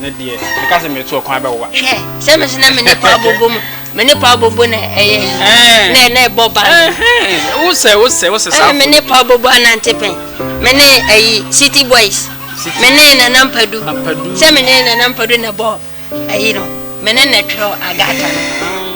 Me deɛ, meka sɛ meretu ɔkwan bɛwowa. Hwɛ, sɛ me nso na me ne paa bobo mu, me ne paa bobo na ɛyɛ na na ɛbɔ ban. Wosɛ wosɛ wosɛ saa. Me ne paa bobo anante pɛn, me ne ayi city boys, me ne nana mpadu, sɛ me ne nana mpadu na ɛbɔ ayi no, me ne na ɛtwerɛ agata no.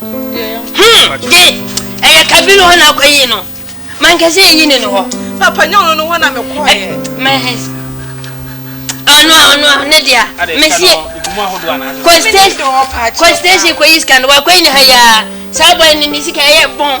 Hmm, de, ɛyɛ kabiri hɔ na akɔ yi no. Mankɛse eyi ne no hɔ. Papa nyɛ ɔno no hɔ na mekɔ yɛ. Mɛhɛs. Ɔno a ɔno a ne deɛ. Mesi. Kɔstation kɔstation kɔyi sika no wakɔyi ne ha yaa. Saa bɔ ne ne sika ɛyɛ bɔn.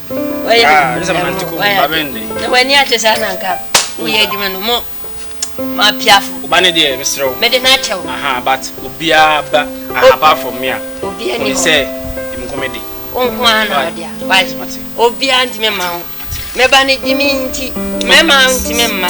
w'ani akyɛ saa na nka woyɛ adwuma no mo mapiafo ba ne deɛ mesrɛ wo mede no akyɛ wo aha but obiaa ba apart from me a obiaa ni sɛ nkɔmɛ de wonko a na ɔde a wagye obiaa ntimi ma wo mɛba ne gyimi nti mɛma ntimi mma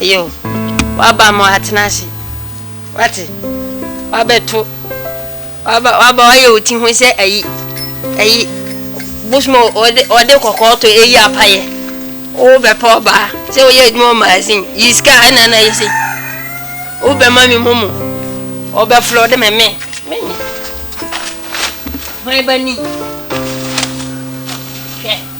Ɛyɛ o, w'aba ma watena ase, w'ate, w'abɛto, w'aba, w'aba, w'ayɛ wo ti ho sɛ ayi, ayi, bosom a ɔde, ɔde kɔkɔɔ to ayi apayɛ, wo bɛpɛ ɔbaa, sɛ woyɛ adwuma wɔ magazine, yi sika a ɛna na yɛ sɛ, wo bɛma me mu mu, ɔbɛflɔ de me me, me me, hwan ba ni, hwɛ.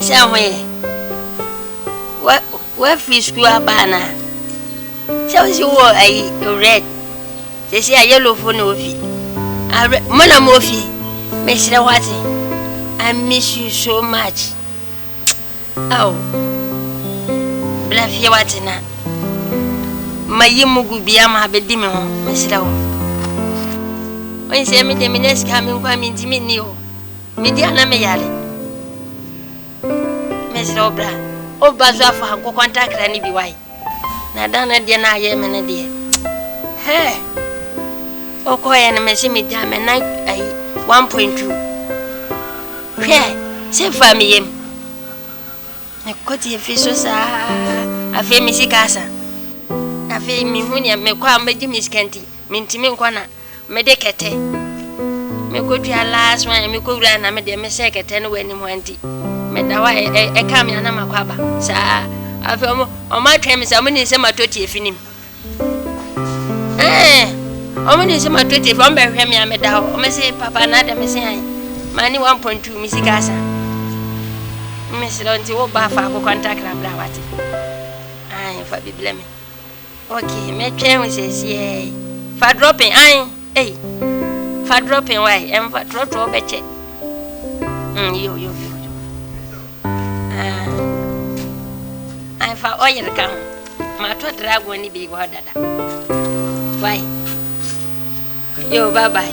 Sɛ ho yɛ wo w'afiri sukuu aba a na sɛ wo si wɔ ayi red sɛsi a yellow fo na ofi awerɛ mo na mo ofi mesrɛ wate I miss you so much ao bla fie wate na ma yi mo gu bia ma abɛdi me ho mesrɛ wo ɔnsɛ me de me ne sika me nkwa me ntimi ni o Me deɛ na me yare mesrɛ wo bra oba so afa nkokɔ ntakra ne bi wae na da no deɛ na ayɛ me no deɛ hɛɛ wokɔɛ no mese megya me nan ayi 1.2 hwɛ sɛ fa me yam mekɔtie fi so saa afei me sika asa afei mehu neɛ mekɔ a mɛgye me sika nti mentimi nkɔ na Me de kɛtɛ me kɔ dua last one me kɔ wura na me de me sɛ kɛtɛ no wɔ anim hɔ nti me da hɔ a ɛka me anam akɔ aba saa afei ɔmo ɔmo atwɛn me sɛ ɔmo nim sɛ ma tɔ tie fi nim ɛɛ ɔmo nim sɛ ma tɔ tie fi ɔmo bɛhwɛ me a me da hɔ ɔmo se papa na adɛ me se an ma ne one point two me sika asa me srɛ nti wo ba fa akokɔ ntakra bra wate an fa bi blɛ me Ok mɛtwɛn wo sesiee yi. Fa dropping ae ei fa dropping wai ɛmfa trɔtrɔ wobɛkyɛ mm yo yo yo yo ah ae fa oil ka ho matɔ dragon ne bi wɔ hɔ dada wai yo bye bye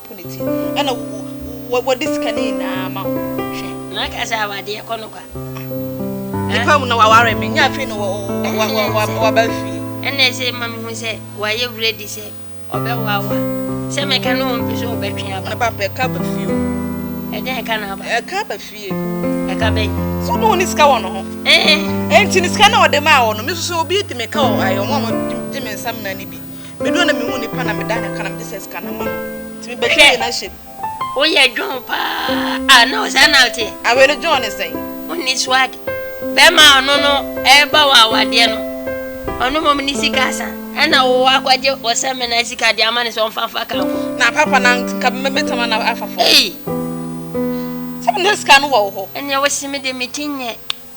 Wo ne ti ɛna wo wɔ de sika ne nyinaa ma wo hwɛ. Na ka sɛ awadeɛ kɔ no kwa. Nipa mu na waware me nya afei no waba fie. Ɛna ɛsɛ ma me hu sɛ wayɛ ready sɛ ɔbɛ wawa sɛ me ka no ɔmpe so ɔbɛ twe aba. Na ba pɛ ka ba fie o. Ɛdɛn ɛka na aba. Ɛka ba fie. Ɛka bɛn. So no ne sika wɔ no ho. Ɛɛ. Ɛnti ne sika na ɔde maa wɔ no me so sɛ obi di me ka wɔ ayɛ ɔmo a mo di me nsa mena ne bi. Baabi a na mehu nnipa na meda ne ka na mede sɛ sika na ma no nti mebɛhwɛ yie na hyɛ mu. Woyɛ John paa a na wo saa na woteɛ. Awee no John ne sɛn? Wonni swag. Bɛrima a ɔno no reba wo awadeɛ no ɔno mmom ne sika asa ɛna wo akɔgye ɔsɛmina sika de ama no sɛ ɔmfa mfa kamfo. Na papa na nka mɛtama no afa fam. Ei! Sɛ na sika no wɔ wo hɔ. Ɛneɛ wose me deɛ meti nyɛ.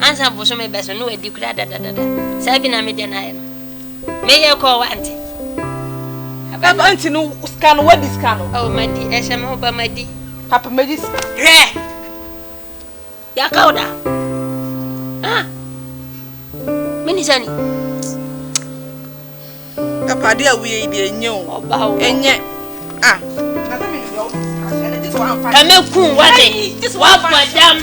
Ansa bosome bɛso no wadi koraa dadadada. Saa bi na me deɛ no ayɛ no. Meyɛ kɔɔ wante. Ɛba nti no sika no wadi sika no. Oh madi ɛhyɛ me ho ba madi. Papa madi sika. Hwɛ. Yaka oda. Ah. Mini sani. Papa dia wuye di enye o. Oba o. Enye. Ah. Kame kun wate. Wa fadam.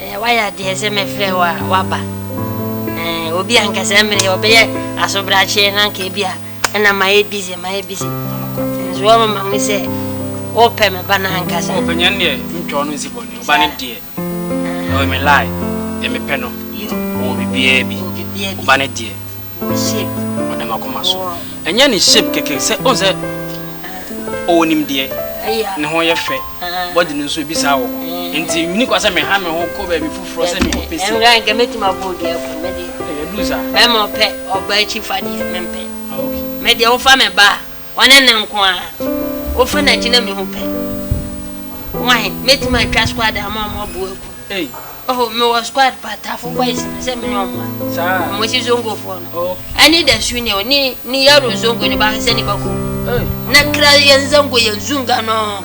Eh wayɛ adeɛ sɛ mɛfrɛ wo a waba Eh obi a nka sɛ mmerɛ ɔbɛyɛ asobrakyeɛ na nka ebi a ɛna mayɛ busy mayɛ busy nso wɔmama mu sɛ wopɛ me ba no ankasa ɔpanyin deɛ mentwa ɔno nsi bɔne ɔba no deɛ ɛwɔ me lie deɛ mepɛ no ɔwɔ biribiaa bi ɔba no deɛ Ship. Ɔda m'akoma so. Ɛnyɛ ne shape kɛkɛ sɛ wohu sɛ ɔwɔ nimdeɛ, ne ho yɛ fɛ, body no nso ebi saa wɔ hɔ. Enti minni kwan sɛ meha me ho kɔ baabi foforɔ sɛ mekɔpɛ sika. Ɛnora nka mɛtumi abɔ obi akum me deɛ. Ɛyɛ duru saa. Mɛma ɔpɛ ɔbaa akyifa deɛ mempɛ. Ah okay. Me deɛ wofa me ba a. Ɔne no nko ara. Wofa n'akyi na mehu pɛ. Why? Mɛtumi atwa squad ama ɔmo abu aku. Oh, mewɔ squad pa, Tafo boys no, sɛ mene ɔmo a. Ɔmo si Zongo foɔ no. Ɛne Da Sunia o, ne ne yaro Zongo no, bahwɛ sɛ ne ba kum. Na kra yɛn Zango yɛn Zunga no.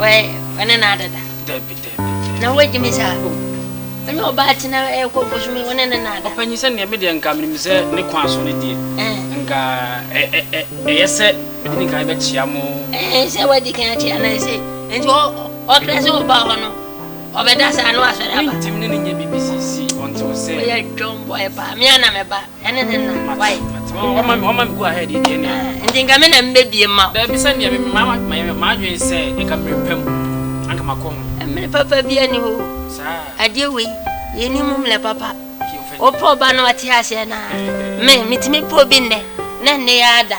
wɔne no adeda dabi dabi na wagye me saa o ɛne ɔbaa tena ɛkɔ bosome wɔne ne no ada ɔpanyin sɛ neɛ medeɛ nka menim sɛ ne kwan so no deɛ nka ɛyɛ sɛ mede ne kan bɛkyea mo sɛ wadi kan akyea na ɛsɛ nti ɔkra sɛ ɔbaa hɔ no ɔbɛda saa no asɔre aba ntim ne ne nyɛ bibisisi ɔnte wo sɛ ɔyɛ dwɔmbɔ ɛpaa mea na mɛba ɛne ne no why ɔma me ɔma me go ahead deɛ ne nti nka me na mbɛbie ma daabi sɛ nea madwen sɛ nka mmerɛ pɛ mu anka makɔ ho mmerɛ papa bi ani hɔ saa adeɛ wei yɛni mu mmerɛ papa wopɛ ɔba no ɔte aseɛ no a me metumi pɛ obi nnɛ na nnɛ yɛ ada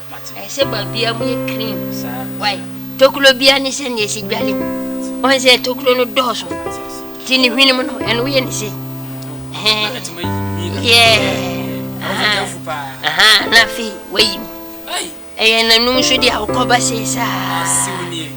Ɛsɛ baabiara mu yɛ clean. Why? Tokuro biara ne sɛnea ɛsi dwale mu. Wɔn sɛ tokuro no dɔɔso. Ti ne hwene mu no, ɛno woyɛ ne sei. Na afei wayi mu. Ɛyɛ n'anum so deɛ wokɔba sei saa.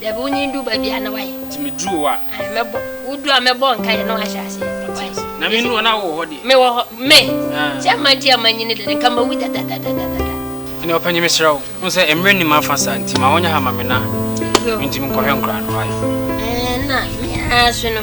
Dabi, wonyin du baabi a, na wayɛ. Nti me duru hɔ a. Ae, mɛbɔ, wo duru a mɛbɔ nkaeɛ na wahyɛ aseɛ. Ɔte Wayɛ. ase. Na me nuru hɔ na wowɔ hɔ deɛ. Me wɔ hɔ, me! Ah. Sɛ amma nti a manyini dada, nka mawu dadadadadada. Ɛnneɛ ɔpanyin mesrɛ wo, wohu sɛ mmerɛ nni m'afa saa, nti ma wɔnyɛ ha mma me na Yo. mentumi nkɔhwɛ nkwadaa no. Wayɛ. Ɛɛ, na me ara nso no.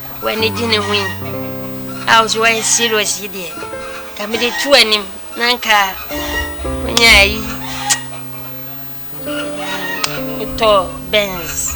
W'ani gye ne ho yi? A wo so woayɛ serious yi deɛ ka mede to anim na nka wonya ayi wotɔ Benz.